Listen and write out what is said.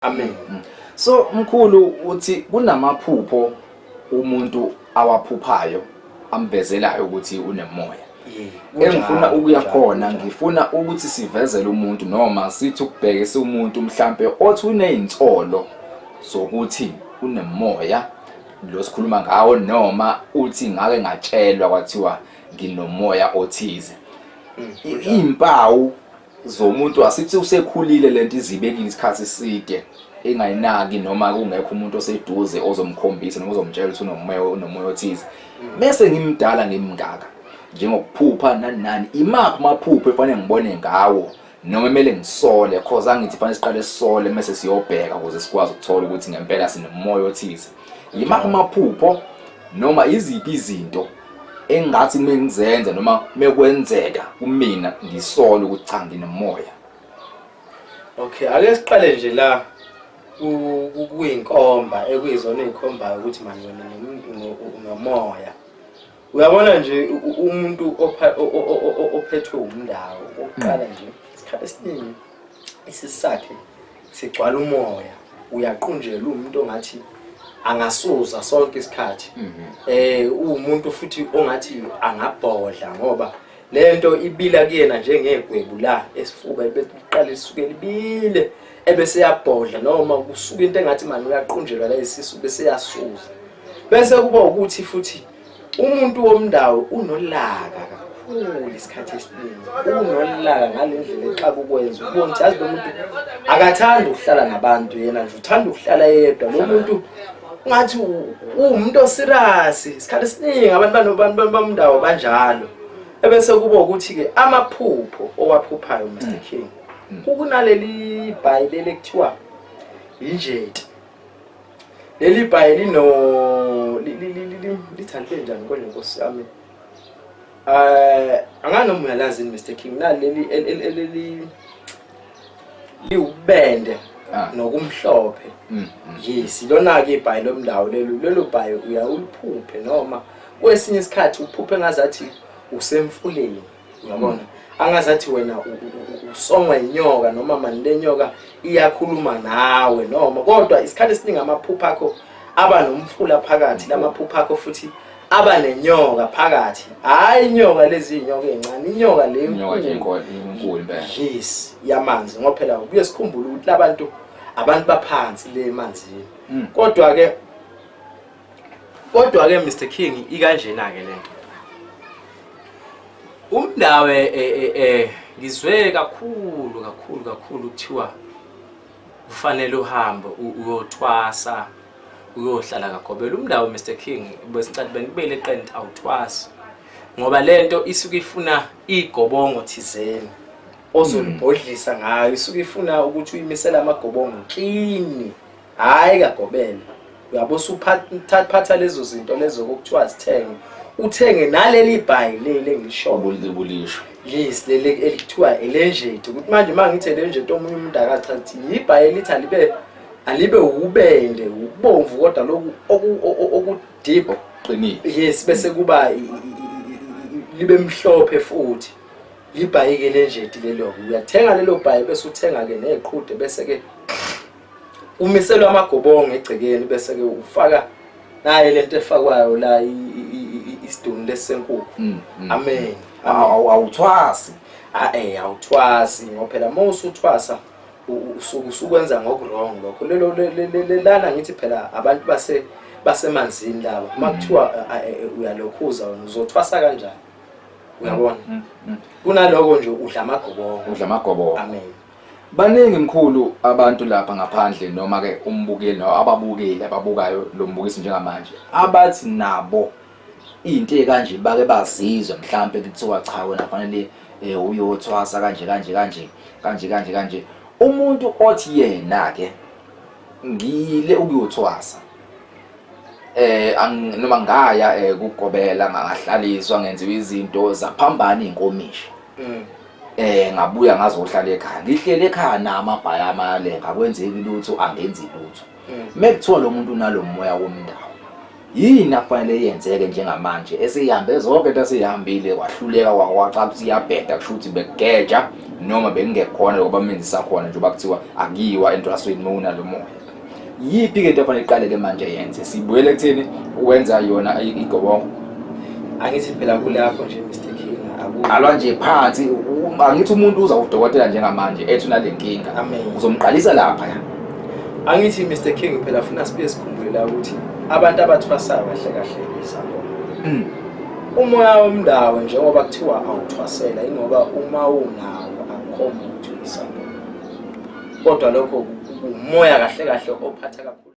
Amen. So mkhulu uthi kunamaphupho umuntu awaphuphayo amvezelayo ukuthi unemoya. Engifuna ukuya khona ngifuna ukuthi sivezele umuntu noma sithi ukubheke siwumuntu mhlambe othi unezinsolo zokuthi unemoya lo sikhuluma ngawo noma uthi ngake ngatshelwa kwathiwa nginomoya othize. Mm, Impawu zomuntu asithi usekhulile lento izibekile isikhathi eside engayinaki noma kungekho umuntu oseduze ozomkhombisa noma ozomtshela ukuthi unomoya unomoya othize mese ngimdala ngimngaka njengokuphupha nani nani imaphi amaphupho efanele ngibone ngawo noma kumele ngisole cause angithi fanele siqale sisole mase siyobheka ukuze sikwazi ukuthola ukuthi ngempela sinomoya othize yimaphi amaphupho noma iziphi izinto engathi mengizenza noma mekwenzeka kumina ngisole ukuthi cha nginomoya okay ake siqale nje la kuyinkomba ekuyizona ezikhombayo ukuthi manje wena nomoya uyabona nje umuntu ophethwe umndawo oqala nje isikhathi esiningi isisakhe sigcwala umoya uyaqunjelwa umuntu ongathi angasuza sonke isikhathi mhm. eh uwumuntu futhi ongathi angabhodla ngoba lento ibila kuyena njengegwebu la esifuba beqala isuke libile ebese yabhodla noma kusuka into engathi manje uyaqunjelwa la isisu bese yasuza bese kuba ukuthi futhi umuntu womndawo unolaka kakhulu isikhathi esiningi unolaka ngale ndlela exaka ukwenza ubona ukuthi yazi lo muntu akathandi ukuhlala nabantu yena nje uthanda ukuhlala yedwa lo muntu ungathi uwumuntu osirasi isikhathi esiningi abantu bamndawo banjalo ebese kuba ukuthi-ke amaphupho owaphuphayo mr mm. king mm. kukunaleli bhayibeli ekuthiwa yinjeti leli bhayi lino lithande njani kodwa nkosi yami um angani noma uyalazi yini mr king naleli eleli liwubende ah. nokumhlophe mm, mm. yes lona-ke ibhayi lomndawo lelo lelo bhayi uyawuliphuphe noma kwesinye isikhathi uphuphe ngazathi usemfuleni uyabona angazathi wena usongwa inyoka noma mani lenyoka iyakhuluma nawe noma kodwa isikhathi esiningi amaphupha akho aba nomfula phakathi lamaphupha akho futhi aba nenyoka phakathi hayi inyoka lezi inyoka ezincane inyoka le enkulu yes yamanzi ngoba phela kuye sikhumbule ukuthi labantu abantu baphansi le manzini hmm. kodwa ke Kodwa ke Mr King ikanjena ke lento. Umndawe eh eh eh ngizwe kakhulu kakhulu kakhulu kuthiwa ufanele uhambe uyothwasa uyohlala kaGobela umndawo Mr King besincathi benibele eqent awuthwasi ngoba lento isuke ifuna igobongo thizeni ozolibhodlisa ngayo isuke ifuna ukuthi uyimisela amagobongo kini Hayi kagobela. Uyabo suphatha lezo zinto lezo okuthiwa zithenge. Uthenge naleli bhayi leli engisho. Ubulishwa. Yes leli elithiwa elenjethi. Ukuthi manje uma ngithi elenjethi omunye umuntu akathi athi yibhayi elithi alibe alibe ubende ubomvu kodwa lokhu oku deep qinile. Yes bese kuba libe mhlophe futhi. Libhayi ke lenjethi lelo. Uyathenga lelo bhayi bese uthenga ke neqhude bese ke umiselwa amagobongo egcekeni bese ke ufaka naye lento efakwayo la isiduni lesenkukhu mm, mm, amen mm. awuthwasi a eh awuthwasi ngoba phela uma usuthwasa usuku usukwenza ngokurong lokho lelo lelana ngithi phela abantu base basemanzini laba uma kuthiwa eh, eh, eh, uyalokhuza wena uzothwasa kanjani uyabona kunaloko nje udla amagobongo udla amagobongo amen Baningi mkhulu abantu lapha ngaphandle noma ke umbukeli nawo ababukeli ababukayo lo mbukiso njengamanje abathi nabo into ekanje bake bazizwe mhlambe kuthiwa cha wena fanele eh, uyothwasa kanje kanje kanje kanje kanje kanje umuntu othi yena ke ngile ukuyothwasa eh noma ngaya eh, kugobela ngahlaliswa ngenziwa izinto zaphambana inkomishi mm. Eh ngabuya ngazohlala ekhaya. Ngihlele ekhaya nama bhaya amayalenga akwenzeki lutho angenzi lutho. Mm. Mekuthiwa lo muntu unalomoya womndawo. Yini afanele yenzeke njengamanje esihambe zonke into esihambile kwahluleka kwawaca ukuthi iyabheda kusho ukuthi bekugeja noma bengingekhona lokho bamenzisa khona njengoba kuthiwa akiyiwa entrasweni uma unalomoya. yipi ke into efanele iqale ke manje yenze sibuyele kuthini wenza yona igobongo angithi phela kulapho nje Mr King alwa nje phansi angithi umuntu uza udokotela njengamanje ethi unalenkinga uzomqalisa lapha ya angithi Mr King phela funa sibe sikhumbule la ukuthi abantu abathwasayo kahle kahle izango hmm. umoya womndawo njengoba kuthiwa awuthwasela ingoba uma unawo akhomba ukuthi isangoma kodwa lokho umoya kahle kahle ophatha kakhulu